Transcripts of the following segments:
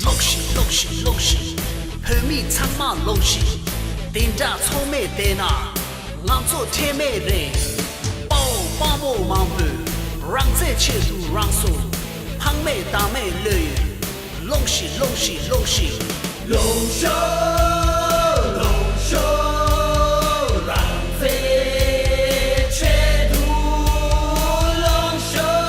ལོག་ཤིག་ལོག་ཤིག་ལོག་ཤིག། བོད་མི་ཚང་མ་ལོག་ཤིག། དེ་འདྲ་ཚོགས་མེད་བསྡད་ན། ང་ཚོ་ཁྲེལ་མེད་རེད། དཔའ་བོ་དཔའ་མོ་མང་པོས། རང་བཙན་ཆེད་དུ་རང་སོ། ཕངས་མེད་བདག་མེད་བློས་ཡོད། ལོག་ཤིག་ལོག་ཤིག་ལོག་ཤིག། ལོག་ཤོག་ལོག་ཤོག། རང་བཙན་ཆེད་དུ་ལོག་ཤོག།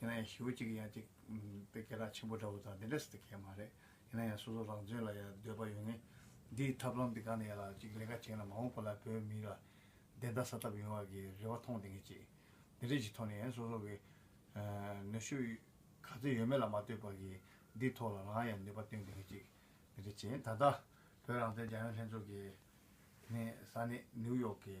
ཡིན་ན་ཡང་ཞི་བོ་གཅིག་ཡང་གཅིག་དཔེ་ཀེ་རག་ཆེན་པོ་འདྲ་བོ་དང་དེ་འདྲ་ཟེར་ཏེ་ཁེལ་མ་རེད་ཡིན་ན་ཡང་སོ་སོ་རང་བཙུན་ལ་ཡང་འདོད་པ་ཡོད་ངེས། འདིའི་ཐབས་ལམ་འདི་གང་ནས་ཡག་ལ་གཅིག་ལས་ཀ་བྱེད་ན་མ་འོངས་པ་ལ་བོད་མི་ལ་བདེན་མཐའ་ས་ཐབས་ཡོང་བ་གི་རེ་བ་མཐོང་བདེ་ངེས་གཅིག་འདི་འདྲས་ཀྱི་ཐོག་ནས་ཡང་སོ་སོ་གི་ནུས་ཤུགས་ག་ཚོད་ཡོད་མེད་ལ་མ་ལྟོས་པར་གྱི་འདིའི་ཐོག་ལ་རང་ཡང་ནུས་པ་བཏོན་བདེ་ངེས་གཅིག་འདི་འདྲས་བྱས་ད་ལྟ་བོད་རང་བཙན་རྒྱ་ཡོན་ལྷན་ཚོགས་ཀྱི་ནས་ས་གནས་ནིའུ་ཡོག་གི།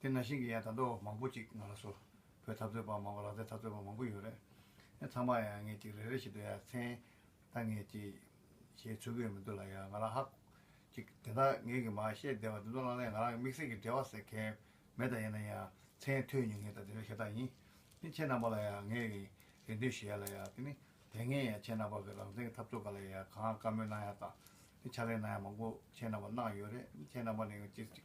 དེ་ན་ཤིང་གི་ཡང་དང་པོ་མང་པོ་ཅིག་ང་ལ་བཟོ། བོད་འཐབ་རྩོད་པ་མང་བ་ལག་རྩལ་འཐབ་རྩོད་པ་མང་པོ་ཡོད་རེད། ཡང་ཚང་མ་ཡང་ངེད་ཅིག་རེ་རེ་བཞིན་དུ་ཡང་མཚན་ད་ངེད་ཅིག། ཞེས་ཚུར་བཀོད་མི་འདུག་ལ་ཡང་ང་ལ་ཧ། ཅིག་དེ་དག་ངེད་ཀྱིས་མ་བཤད་བསྡད་པ་དེ་ཚོ་བླངས་ལས་ང་རང་གི་དམིགས་བསལ་གྱི་འབྲེལ་བ་ཟེར་མཁན་མེད་ད་ཡིན་ན་ཡང་མཚན་ཐོས་ཉུང་ངེད་དང་དེ་འདྲ་ཤ་སྟག་ཡིན། དེ་ཁྱེད་རྣམ་པ་ལ་ཡང་ངེད་ཀྱིས་རེ་འདུན་ཞུ་ཡ་ལ་ཡང་དེ་ནི་དེ་སྔའི་ཡང་ཁྱེད་རྣམ་པ་གི་རང་བཙན་གྱི་འཐབ་རྩོད་ག་ལ་ཡང་གང་བཀའ་མོལ་གནང་ཡ་དང། དེ་ཕྱག་ལས་གནང་ཡ་མང་པོ་ཁྱེད་རྣམ་པ་གནང་ཡོད་རེད་ཁྱེད་རྣམ་པ་ནས་ཡང་ཅིག་ཅིག་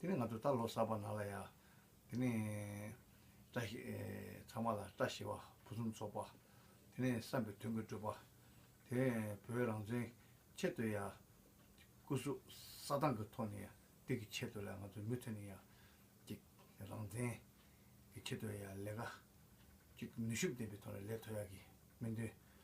དེ་ནས་ང་ཚོ་ད་ལོ་གསར་པ་ནང་ལ་ཡ། དེ་ནས། བཀྲ་ཤིས། ཚང་མ་ལ་བཀྲ་ཤིས་པ་ཕུན་སུམ་ཚོགས་པ། དེ་ནས་བསམ་པའི་དོན་གྱི་སྤྲུལ་པ། དེ་ནས་བོད་རང་བཙན་ཆེད་དུ་ཡ། སྐུ་གཟུགས་ས་དང་གི་ཐོག་ནས་ཡ། དེ་གི་ཆེད་དུ་ལ་ང་ཚོ་མུ་མཐུད་ནས་ཡ། ཅིག། རང་བཙན། གི་ཆེད་དུ་ཡ་ལས་ཀ། ཅིག་ནུས་ཤུགས་ལྡན་པའི་ཐོག་ནས་ལས་མཐོ་ཡ་གི་སྨོན་འདུན།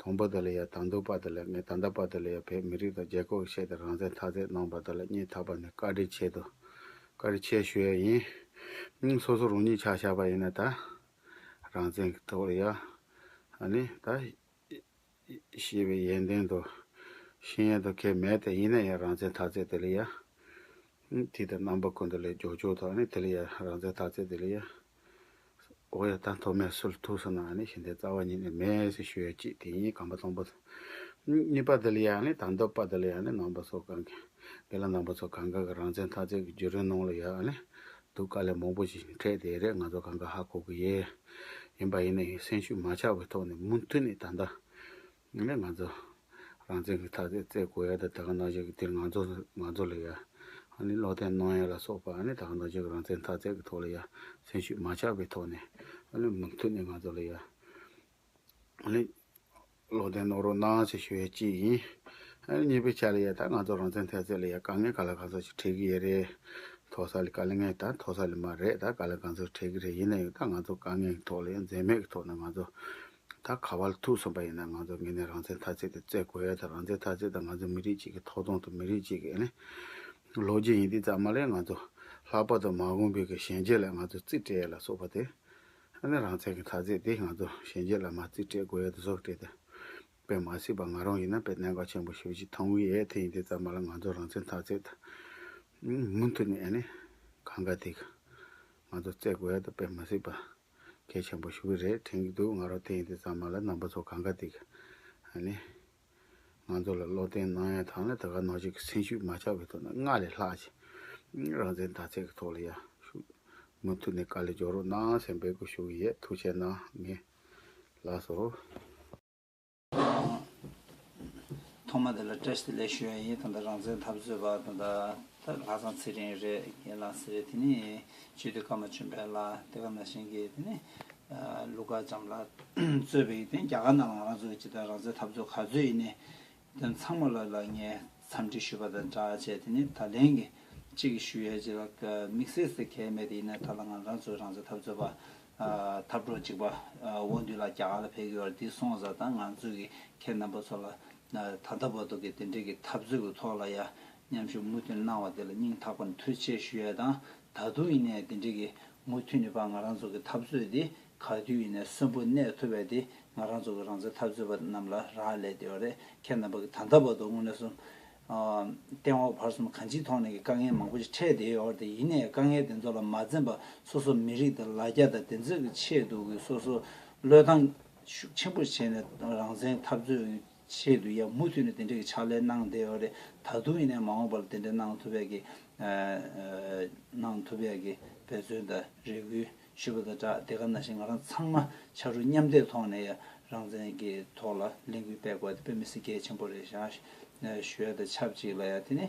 དང་པོ་དེ་ལ་ཡང་དང་འདུག་པ་དེ་ལས་ངས་ད་ལྟ་བར་དུ་ལ་ཡང་བོད་མི་རིགས་དང་རྒྱལ་ཁབ་ཀྱི་ཆེད་དུ་རང་བཙན་ཐག་བཅད་གནང་བ་དེ་ལ་སྙིང་ཐག་པ་ནས་བཀའ་དྲིན་ཆེ་དུ་བཀའ་དྲིན་ཆེ་ཞུ་ཡས་ཡིན། ཨང། སོ་སོ་རང་ཉིད་ཆ་བཞག་པ་ཡིན་ན་ད། རང་བཙན་གྱི་ཐོག་ལ་ཡང། ཨ་ནི། ད། ཞེས་པའི་ཡན་ཏན་དང། ཤེས་ཡན་དང་ཁྱད་མེད་དེ་ཡིན་ན་ཡང་རང་བཙན་ཐག་བཅད་དེ་ལ་ཡང། ཨང། དུས་དང་རྣམ་པ་ཀུན་ཏུ་ལས་སྒྱོགས་སྒྱོགས་དང་ཨ་ནི་དེ་ལ་ཡང་རང་བཙན་ཐག་བཅད་དེ་ལ་ཡང། ཨོ་ཡ་ད་མཐོ་དམན་སུ་ལ་ཐུག་སོང་ན་ནི་ཞིང་དེའི་རྩ་བ་ཉིད་ནས་མེད་ཟེར་ཞུ་ཡ་གཅིག་དེ་ཉིད་གང་པ་སྟོང་པ། གཉིས་པ་འདི་ལ་ཡང་ནི་དང་དོད་པ་འདི་ལ་ཡང་ནི་ནང་པ་ཚོ་གང་གི་འདི་ལ་ནང་པ་ཚོ་གང་ག་གི་རང་བཙན་ཐག་བཅད་ཀྱི་རྒྱུ་རིན་གནོང་ལ་ཡ་ནི་འདུག་དཀའ་ལས་མང་པོ་ཞིག་འཕྲད་དེ་རེད་ང་ཚོ་གང་ག་ཧ་གོ་གི་ཡེ་ཡིན་པ་ཡིན་ནའི་སེམས་ཤུགས་མ་ཆག་པའི་ཐོག་ནས་མུ་མཐུད་ནས་ད་ལྟ་ངས་ལས་ང་ཚོ་རང་བཙན་གྱི་ཐག་བཅད་བརྩད་དགོས་ཡ་ད་ད་ག་ནོ་ཤེས་ཀྱི་དེ་ང་ཚོ་ང་ཚོ་ལ་ཡ་ཨ་ནི་བློ་བརྟན་རྣོ་ཡ་ལ་སོགས་པ་ཨ་ནི་ད་ག་ནོ་ཤེས་ཀྱི་རང་བཙན་ཐག་བཅད་ཀྱི་ཐོག་ལ་ཡ་སེམས་ཤུགས་མ་ཆག་པའི་ཐོག་ནས་ཨ་ནི་མུ་མཐུད་ནས་ང་ཚོ་ལ་ཡ་ཨ་ནི་བློ་བརྟན་རྣོ་རོགས་གནང་ཞེས་ཞུ་ཡ་གཅིག་ཡིན་ཨ་ནི་གཉིས་པའི་ཆ་ལ་ཡ་ད་ང་ཚོ་རང་བཙན་ཐད་བརྩད་ལ་ཡ་དཀའ་ངལ་ག་ལ་གང་ཚོགས་ཤིག་འཕྲད་ཀྱི་ཡ་རེད་མཐོ་ས་ལ་དཀའ་ལ་ངལ་ད་མཐོ་ས་ལ་མ་རེད་ད་ག་ལ་གང་ཚོགས་འཕྲད་ཀྱི་རེད་ཡིན་ན་ཡང་ད་ང་ཚོ་དཀའ་ངལ་གྱི་ཐོག་ལ་ཡ་འཛེམ་མེད་ཀྱི་ཐོག་ནས་ང་ཚོ་ད་ག་བ་ལ་ཐུག་སོང་པ་ཡིན་ན་ང་ཚོ་ངེད་ནས་རང་བཙན་ཐ་ཚིག་དེ་བརྩད་དགོས་ཡ་ད་རང་བཙན་ཐ་ཚིག་དང་ང་ཚོ་མི་རིགས་གཅིག་གི་ཐོག་དོང་དུ་མི་རིགས་གཅིག་གི་ལོ་རྒྱུས་ཡིན་འདི་ཙམ་མ་ལས་ང་ཚོ་ལྷག་པར་དུ་མང་གོང་བོད་ཀྱི་ཞན་ཆ་ལས་ང་ཚོ་རྩིས་སྤྲད་ཡ་ལ་སོགས་པ་དེ་ནས་རང་བཙན་གྱི་ཐ་ཚིག་དེ་ང་ཚོ་ཞན་ཆ་ལ་མ་རྩིས་སྤྲད་དགོས་ཡ་ད་སོགས་སྤྲད་དེ་པའི་མ་སྲིད་པ་ང་རང་ཡིན་ན་པའི་གནད་འགག་ཆེན་པོ་ཞུ་ཅིག་ཐང་བུའི་ཡས་དེ་ཡིན་འདི་ཙམ་མ་ལ་ང་ཚོ་རང་བཙན་ཐ་ཚིག་ད་མུ་མཐུད་ནས་ཡ་ནས་གང་ག་དེ་གི་ང་ཚོ་བརྩད་དགོས་ཡ་ད་པའི་མ་སྲིད་པ། གལ་ཆེན་པོ་ཞུ་གི་རེད་དྲན་གི་འདུག་ང་རོ་དེ་ཡིན་དེ་ཙམ་མ་ལ་རྣམ་པ་ཚོ་གང་ག་དེ་ཧ་ནི་ང་ཚོ་ལ་བློ་བརྟན་གནང་ཡ་དང་ལ་ད་ག་ནོར་ཅིག་གི་སེམས་ཤུགས་མ་ཆག་པའི་ཐོག་ནས་སྔར་ལས་ལྷག་ཅིག་རང་བཙན་དར་ཚད་གི་ཐོག་ལ་ཡ་ཤུགས་མུ་མཐུད་ནས་ག་ལེ་འཇོག་རོགས་གནང་སེམས་འབད་དགོས་ཞུ་གི་ཡད་ཐུགས་ཆེ་གནང་ངེས་ལགས་སོ། ཐོག་མ་དེ་ལ་ཏྲེས་ཏི་ལས་ཞུ་བ་ཡིན་ད་ལྟ་རང་བཙན་འཐབ་རྩོད་པ་ད་ལྟ་ལྷག་བསམ་ཚེ་རིང་རེད་རྒན་ལགས་ཟེར་དེ་ནས་ཇུས་ཏི་ཀརྨ་བྱོན་འཕེལ་ལགས་དེ་ག་ནང་བཞིན་གྱི་དེ་ནས་ལུག་དཀར་ལྕམ་ལགས་གཙོས་པའི་དེ་ནས་རྒྱ་གར་ནང་ལ་ང་རང་ཚོ་ཇི་ལྟར་རང་བཙན་འཐབ་རྩོད་ག་ཚོད་ཡིན་ནས་དོན་ཚང་མ་ལ་ལ་ངས་འཚམས་འདྲི་ཞུས་པ་དང་འདྲ་བྱས་དེ་ནས་ད་ལན་གྱི་གཅིག་གི་ཞུ་ཡས་ཇི་ལ་དམིགས་བསལ་ཟེར་གལ་མེད་དེ་ཡིན་ན་ད་ལ་ང་རང་ཚོ་རང་བཙན་འཐབ་རྩོད་པ་འཐབ་གྲོགས་གཅིག་པ་དབང་འདུས་ལགས་རྒྱ་གར་ལ་ཕེབས་ཀྱི་བར་འདི་སོང་ཟ་དང་ང་ཚོས་ཀྱི་ཁྱེད་རྣམ་པ་ཚོ་ལ་ད་ལྟ་བར་དུ་གི་དེ་འབྲེལ་གྱི་འཐབ་རྩོད་ཀྱི་ཐོག་ལ་ཡ་མཉམ་ཞུ་མུ་མཐུད་གནང་བ་དེ་ལ་སྙིང་ཐག་པར་མཐུད་ཆེ་ཞུ་ཡས་དང་ད་དུང་ཡིན་ནའི་དེ་འབྲེལ་གྱི་མུ་མཐུད་ནི་པ་ང་རང་ཚོ་གི་འཐབ་རྩོད་འདི་ག་དུས་ཡིན་ནའི་གསོན་པོ་གནས་ཐུབ་པའི་དེ་ང་རང་ཚོ་གི་རང་བཙན་འཐབ་རྩོད་པ་རྣམ་ལ་རག་ལས་དེ་བ་རེད་ཁྱེད་རྣམ་པ་གི་ད་ལྟ་བར་དུ་དངོས་གནས་སོམས་སྟེང་འོག་བར་གསུམ་གང་ཅིའི་ཐོག་ནས་ཀྱི་དཀའ་ངལ་མང་པོ་ཞིག་འཕྲད་བསྡད་ཡོད་དེ་ཡིན་ནས་དཀའ་ངལ་དེ་ཚོ་ལ་མ་འཛེམས་པར་སོ་སོ་མི་རིགས་དང་ལ་རྒྱ་དང་བདེན་རྫུན་གྱི་ཆེད་དུ་ཀྱི་སོ་སོ་བློས་བཏང་ཤུགས་ཆེན་པོ་བྱས་ནས་རང་བཙན་འཐབ་རྩོད་ཀྱི་ཆེད་དུ་ཡང་མུ་མཐུད་ནས་དེ་འདྲའི་ཀྱི་ཕྱག་ལས་གནང་བསྡད་ཡོད་རེད་ད་དུང་ཡིན་ནས་མ་འོངས་པར་དེ་འདྲ་གནང་ཐུབ་པའི་ཀྱི་གནང་ཐུབ་པའི་ཀྱི་འབད་བརྩོན་དང་རེ་སྐུལ། ཞུ་བ་དང་སྦྲགས་དེ་ག་ན་བཞིན་ང་རང་ཚང་མ་ཕྱར་གྲུ་མཉམ་འདེགས་ཐོག་ནས་རང་བཙན་གྱི་ཐོག་ལ་ལས་འགུལ་སྤེལ་དགོས་ཏེ་བོད་མི་སེར་སྐྱ་ཆེན་པོ་རེ་བཞགཞོལ་དང་ཆབས་ཅིག་ལ་ཡང་དེ་ནི་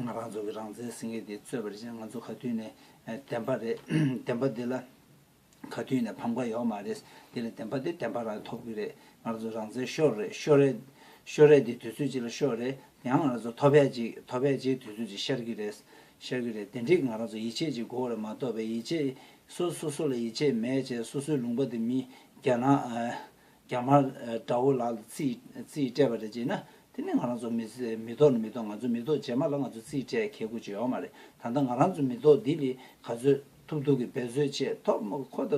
ང་རང་ཚོ་གི་རང་བཙན་སེང་གེ་དེ་རྩོད་པ་རེད་ཅེས་ང་ཚོ་ག་དུས་ནས་བདེན་པ་རེད་བདེན་པ་འདི་ལ་ག་དུས་ནས་ཕམ་ཁ་ཡོད་མ་རེད་འདི་ལ་བདེན་པ་འདི་བདེན་པ་རང་ཐོབ་གི་རེད་ང་རང་ཚོ་རང་བཙན་ཤོར་རེད་ཤོར་རེད་ཤོར་རེད་འདི་དུས་ཚོད་ཅིག་ལ་ཤོར་རེད་ཡང་ང་རང་ཚོ་ཐོབ་བས་ཅིག་ཐོབ་བས་ཅིག་དུས་ཚོད་ཅིག་ཤར་གྱི་རེད་ཤར་གི་རེད་དེ་འགྲིག་ང་རང་ཚོ་ཡིད་ཆེས་ཀྱི་མགོ་བོ་ལ་མ་གཏོགས་པའི་ཡིད་ཆེས་སོ་སོ་སོ་ལ་ཡིད་ཆེས་མེད་ཅེས་སོ་སོའི་ལུང་པ་དེ་མི་རྒྱ་ནག་རྒྱ་དམར་དགྲ་བོ་ལགས་ལ་རྩིས་སྤྲད་པ་རེད་ཅེ་ན་དེ་ནི་ང་རང་ཚོ་མི་ཐོག་ནི་མི་ཐོག་ང་ཚོ་མི་ཐོག་རྗེས་མ་ལ་ང་ཚོ་རྩིས་སྤྲད་གལ་དགོས་ཅི་ཡོད་མ་རེད་ད་ལྟ་ང་རང་ཚོ་མི་ཐོག་འདི་ལས་ག་ཚོད་ཐུབ་ཐུབ་ཀྱི་འབད་བཟོད་ཆེད་ཐོག་མ་ཁོ་ད་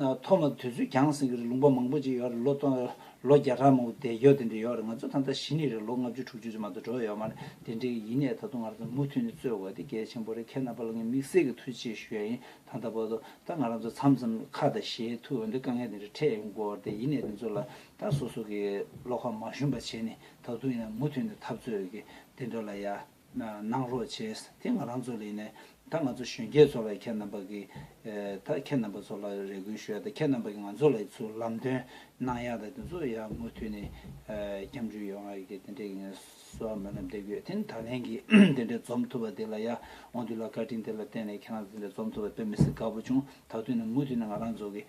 ཐོག་མ་དུས་ཚོད་འགྱངས་ཟིན་གི་རེད་ལུང་པ་མང་པོ་ཅིག་ཡོད་རེད་ལོ་སྟོང་ལོ་བརྒྱ་ཕྲག་མང་པོ་འདས་ཀྱོ་དེ་འདྲ་ཡོད་རེད་ང་ཚོ་ད་ལྟ་གཞི་ནས་རེད་ལོ་ལྔ་བཅུ་དྲུག་ཅུ་ཙམ་མ་གཏོགས་འགྲོ་ཡོད་མ་རེད་དེ་འདྲ་ཡིན་ནའི་ད་དུང་ང་རང་ཚོ་མུ་མཐུད་ནས་རྩོད་དགོས་དེ་གལ་ཆེན་པོ་རེད་ཁྱེད་རྣམ་པ་ལ་ངས་དམིགས་བསལ་གྱི་ཐུགས་རྗེ་ཞུ་ཡ་ཡིན་ད་ལྟ་བར་དུ་ད་ང་རང་ཚོ་མཚམས་མཚམས་ཁ་དང་ཞེ་ཐུག་འོན་ཏེ་དཀའ་ངལ་དེ་འདྲ་འཕྲད་ཡོང་དགོས་རེད་ཡིན་ནའི་དེ་ཚོ་ལ་ད་སོ་སོ་གི་བློ་ཁ་མ་ཞུམ་པ་བྱས་ནས་ད་དུང་ཡང་མུ་མཐུད་ནས་འཐབ་རྩོད་གི་དེ་འདྲ་ལ་ཡ། གནང་རོགས་བྱས། དེ་ང་རང་ཚོ་ལས་ནས་ད་ང་ཚོ་གཞོན་སྐྱེས་ཚོ་ལ་ཁྱེད་རྣམ་པ་གིས་ད་ཁྱེད་རྣམ་པ་ཚོ་ལ་རེ་སྐུལ་ཞུ་ཡ་ད་ཁྱེད་རྣམ་པ་གིས་ང་ཚོ་ལ་ཚུར་ལམ་སྟོན་གནང་ཡ་ད་དེ་ཚོ་ཡ་མུ་མཐུད་ནས་སྐྱབས་འཇུག་ཡོང་ཡ་གི་དེ་འདྲས་གི་ངས་གསོལ་བ་སྨོན་ལམ་འདེབས་ཡོད་དེ་ད་ལན་གི་དེ་འདྲས་འཛོམས་ཐུབ་པ་དེ་ལ་ཡ་འོང་དུས་ལ་བཀའ་དྲིན་དེ་ལ་བརྟེན་ནས་ཁྱེད་རང་ཚོ་དེ་འདྲས་འཛོམས་ཐུབ་པ་དཔེ་མི་སྲིད་དགའ་པོ་བྱུང་ད་དུས་ནས་མུ་མཐུད་ནས་ང་རང་ཚོ་གི་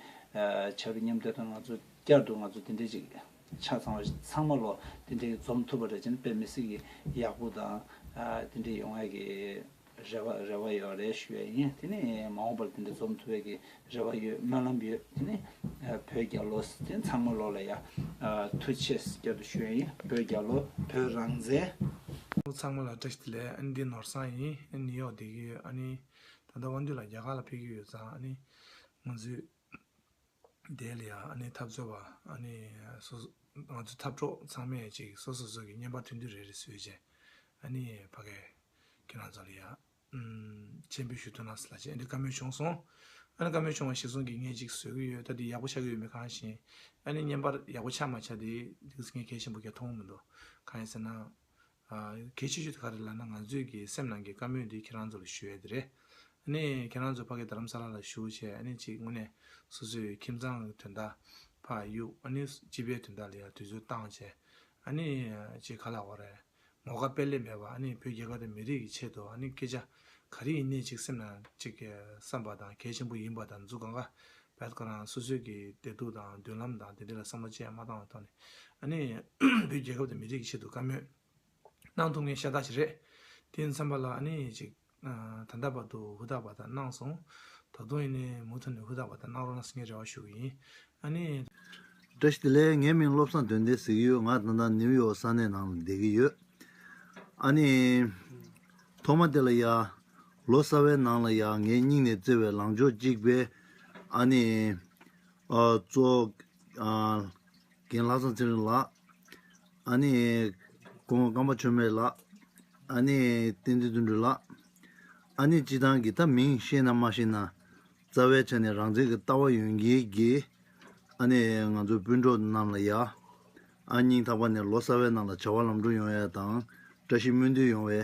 ཆབ་རི་མཉམ་འབྲེལ་དང་ང་ཚོ་བསྐྱར་དུ་ང་ཚོ་དེ་འདྲས་ཅིག། ཆ་ཚང་བ་ཚང་མ་ལོ་འདི་འདྲའི་འཛོམས་ཐུབ་པ་རེད་ཅེ་ན་དཔེ་མི་སྲིད་ཀྱི་ཡག་པོ་དང་འདི་འདྲའི་ཡོང་བའི་ཀྱི་རེ་བ་རེ་བ་ཡོད་རེད་ཞུ་བའི་ཡིན་དེ་ནི་མ་འོངས་པར་འདི་འདྲ་འཛོམས་ཐུབ་བའི་ཀྱི་རེ་བ་ཡོད་སྨོན་ལམ་ཡོད་དེ་ནི་བོད་རྒྱ་ལོ་དེ་ནི་ཚང་མ་ལོ་ལ་ཡ་ཐུ་ཆེ་བསྐྱར་དུ་ཞུ་བའི་ཡིན་བོད་རྒྱ་ལོ་བོད་རང་བཙན། ལོ་ཚང་མ་ལ་བཀྲ་ཤིས་བདེ་ལེགས་ཨ་ནི་འདི་ནོར་བཟང་ཡིན་ཨ་ནི་ནིའུ་ཡོག་བསྡད་ཀྱི་ཡོད་ཨ་ནི་ད་ལྟ་དབང་འདུས་ལ་རྒྱ་གར་ལ་ཕེབས་ཀྱི་ཡོད་ཙང་ཨ་ནི་ང་ཚོའི། དེ་ལ་ཡང་འཐབ་རྩོད་པ། ང་ཚོའི་འཐབ་གྲོགས་ཚང་མས་ཅིག་སོ་སོ་སོ་གི་བརྙན་པར་ཐོན་དུས་རེ་རེ་བཟོས་རྗེས། ཕ་སྐད་ཁྱེད་རང་ཚོ་ལ་ཡང་མཆན་བུ་ཞུ་འདོད་ན་ལ་ཅི་འདི་བཀའ་མོལ་བྱུང་སོང། བཀའ་མོལ་བྱུང་བ་ཞིག་གསུང་གི་ངས་ཅིག་བཟོས་ཀྱི་ཡོད་ད་དེ་ཡག་པོ་ཆགས་ཀྱི་ཡོད་མེད་གང་ཞེན། བརྙན་པར་ཡག་པོ་ཆགས་མ་ཆགས་དེ་ངས་གལ་ཆེན་པོ་གལ་མཐོང་གི་མི་འདུག་གང་ཡིན་ཟེར་ན། གལ་ཆེ་ཤོས་དེ་ག་རེད་ལབ་ན་ང་ཚོས་ཀྱི་སེམས་ནང་གི་དཀའ་མོས་དེ་ཁྱེད་རང་ཚོ་ལ་ཞུ་ཡས་དེ་རེད། ཨཱ་ནི་ཁྱེད་རང་ཚོ་ཕ་གི་རྡ་རམ་ས་ལ་ལ་བཞུགས་བྱས་ཨཱ་ནི་ཅིག་དངོས་གནས་སོ་སོས་ཁྱིམ་ཚང་གི་དོན་དག་ཕ་གཡུག་ཨཱ་ནི་སྤྱི་པའི་དོན་དག་ལ་ཡང་དུས་ཚོད་བཏང་བྱས་ཨཱ་ནི་ཅིག་ག་ལ་འོ་རེད། ངོ་དགའ་དཔལ་ལེགས་མེད་པ་ཨཱ་ནི་བོད་རྒྱལ་ཁབ་དང་མི་རིགས་ཀྱི་ཆེད་དུ་ཨཱ་ནི་སྐད་ཆ་ག་རེ་ཡིན་ནས་ཅིག་སེམས་ནང་ཅིག་བསམ་པ་དང་གལ་ཆེན་པོ་ཡིན་པ་དང་འཛུགས་ག་འགའ་བོད་ཁོ་རང་སོ་སོའི་གི་བདེ་སྡུག་དང་མདུན་ལམ་དང་དེ་འདྲ་ལ་བསམ་བློ་ཅི་ཡང་མ་བཏང་བའི་ཐོག་ནས་ཨ་ནི་བོད་རྒྱལ་ཁབ་དང་མི་རིགས་ཀྱི་ཆེད་དུ་བཀའ་མོས་གནང་ཐུབ་ངེས་ཤ་སྟག་ཞིག་རེད། དེ་མཚམས་པ་ལ་ཨ་ནི་ཅིག་ད་ལྟ་བར་དུ་ཧུར་ཐག་བར་ཐག་གནང་སོང། ད་དུང་ཨི་ནི་མུ་མཐུད་ནས་ཧུར་ཐག་བར་ཐག་གནང་རོགས་གནང་ཞེས་ངས་རེ་བ་ཞུ་གི་ཡིན། ཨ་ནི། བཀྲ་ཤིས་ལས་ངའི་མིང་བློ་བཟང་དོན་ལྡན་ཟེར་གྱི་ཡོད་ང་ད་ལྟ་ནིའུ་ཡོག་ས་གནས་ནང་ལ་བསྡད་ཀྱི་ཡོད། ཨ་ནི། ཐོག་མ་དེ་ལ་ཡ། ལོ་གསར་བའི་ནང་ལ་ཡང་ངའི་སྙིང་ནས་བརྩེ་བའི་ལང་ཕྱོགས་གཅིག་པའི། ཨ་ནེ། གཙོ། རྒན་ལྷ་བཟང་ཚེ་རིང་ལགས། ཨ་ནེ། ཀོང་བོ་སྐམ་པ་ཆོས་མེད་ལགས། ཨ་ནེ། བསྟན་འཛིན་དོན་འགྲུབ་ལགས། ཨ་ནེ་སྤྱི་བཏང་གི་ད་མིང་ཤེས་ན་མ་ཤེས་ན། རྩ་བའི་ཆ་ནས་རང་བཙན་གྱི་ལྟ་བ་ཡོན་གྱིས་དགེ། ཨ་ནེ། ང་ཚོའི་སྤུན་གྲོགས་རྣམས་ལ་ཡ། ཨ་སྙིང་ཐག་པ་ནས་ལོ་གསར་བའི་ནང་ལ་བྱ་བ་ལམ་འགྲོ་ཡོང་ཡ་དང་བཀྲ་ཤིས་སྨོན་འདུན་ཡོང་བའི།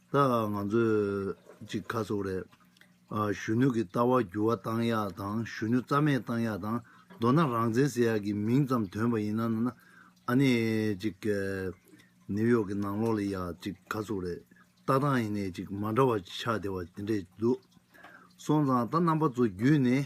ད་ང་ཚོས་གཅིག་ཁ་གསོ་རེད། གཞོན་ནུ་གི་ལྟ་བ་འགྱུར་བ་གཏང་ཡག་དང་གཞོན་ནུ་རྩ་མེད་གཏང་ཡག་དང་མདོར་ན་རང་བཙན་ཟེར་ཡག་གི་མིང་ཙམ་དོན་པ་ཡིན་ན་ན་ཨ་ནི་གཅིག་ནིའུ་ཡོག་གི་ནང་ལོག་ལ་ཡག་གཅིག་ཁ་གསོ་རེད་ལྟ་སྟངས་ཡིན་ནས་གཅིག་མ་འདྲ་བ་ཆགས་བསྡད་པ་དེ་འདྲས་འདུག་སོང་ཙང་ད་རྣམ་པ་ཚོ་བརྒྱུད་ནས་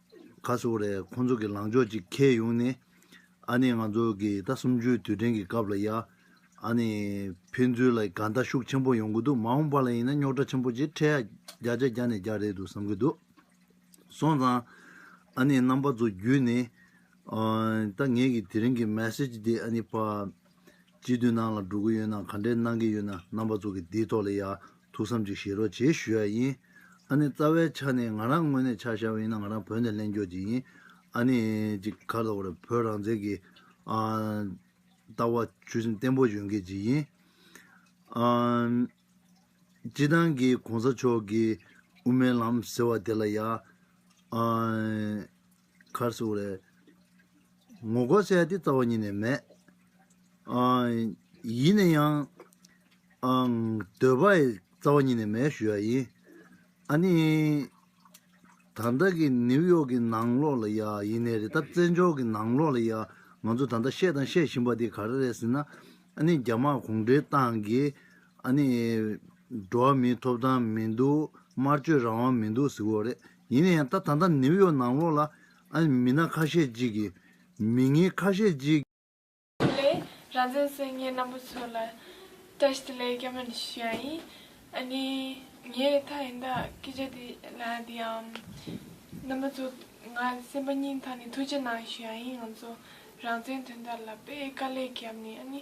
ག་སོ་རས་ཁོང་ཚོ་གི་ལངས་ཕྱོགས་ཅིག་ཁེལ་ཡོང་ནས། ཨ་ནེ་ང་ཚོ་གི་ད་སུམ་བཅུའི་དུས་དྲན་གི་སྐབས་ལ་ཡ། ཨ་ནེ། ཕན་ཚུན་ལ་དགའ་ཟླ་ཤུགས་ཆེན་པོ་ཡོང་གི་འདུག་མ་འོངས་པ་ལ་ཡིན་ན་རྙོག་དྲ་ཆེན་པོ་ཅིག་འཕྲད་ཡ། བརྒྱ་ཆ་བརྒྱ་ནས་བརྒྱ་རེད་འདུག་བསམ་གི་འདུག། སོང་ཙང། ཨ་ནེ་རྣམ་པ་ཚོ་བརྒྱུད་ནས། ད་ངེད་ཀྱི་དེ་རིང་གི Message འདི་ཨ་ནེ་པ། སྤྱི་འཐུས་ནང་ལ་འགྲོ་གི་ཡོད་ན་ག་འདྲས་གནང་གི་ཡོད་ན་རྣམ་པ་ཚོ་གི་འདིའི་ཐོག་ལ་ཡ། ཐུགས་བསམ་གཅིག་བཞེས་རོགས་བྱེད་ཞུ་ཡ་ཡིན། ཨ་ནེ་རྩ་བའི་ཆ་ནས་ང་རང་དངོས་གནས་ཆ་བཞག་ཡིན་ན་ང་རང་བོད་ནས་གླེང་རྒྱོགས་བྱེད་ཡིན། ཨ་ནེ་གཅིག་གར་དོག་རེད་བོད་རང་བཙན་གྱི། ལྟ་བ་ཆོད་སེམས་བརྟན་པོ་ཡོད་མཁན་གཅིག་ཡིན། སྤྱི་བཏང་གི་གོང་ས་མཆོག་གི་དབུ་མའི་ལམ་ཟེར་བ་དེ་ལ་ཡ། གར་བཟོ་བ་ལས། ངོ་སྒོར་བཤད་དེ་རྩ་བ་ཉིད་ནས་མེད། ཡིན་ན་ཡང། འདོད་པ་ཡི་རྩ་བ་ཉིད་ནས་མེད་ཞུ་ཡག་ཡིན། ཨ་ནི། ད་ལྟ་གི་ནིའུ་ཡོག་གི་ནང་ལོག་ལ་ཡ་ཡིན་ནས་རེད་ད་བཙན་བྱོལ་གི་ནང་ལོག་ལ་ཡ་ང་ཚོ་ད་ལྟ་བཤད་དང་བཤད་བཞིན་པ་དེ་ག་རེ་རེད་ཟེར་ན། ཨ་ནི་རྒྱ་དམར་གུང་ཁྲན་ཏང་གིས་ཨ་ནི། འགྲོ་བ་མིའི་ཐོབ་ཐང་མི་འདུག་སྨྲ་བརྗོད་རང་དབང་མི་འདུག་ཟེར་གི་རེད། ཡིན་ན་ཡང་ད་ད་ལྟ་ནིའུ་ཡོག་ནང་ལོགས་ལ་མི་སྣ་ཁ་ཤས་ཅིག་གིས་མི་ངན་ཁ་ཤས་ཅིག། དེ་ལས་རང་བཙན་སྲོལ་ངན་ནག་པོ་ཚོ་ལ་བཀྲ་ཤིས་བདེ་ལེགས་སྐྱབས་མེད་ཞུ་ཡ་ཡིན། ཨ་ནི་ངའི་མཐའ་ཡིན་ད་སྐད་ཆ་དེ་ལ་དེ་ཡང་རྣམ་པ་ཚོ་ང་སེམས་པ་སྙིང་ཐག་ནས་ཐུགས་རྗེ་གནང་ཞུ་ཡ་ཡིན་ང་ཚོ་རང་བཙན་དོན་དག་ལ་དཔེ་དཀའ་ལས་བརྒྱབ་ནས་ཨ་ནི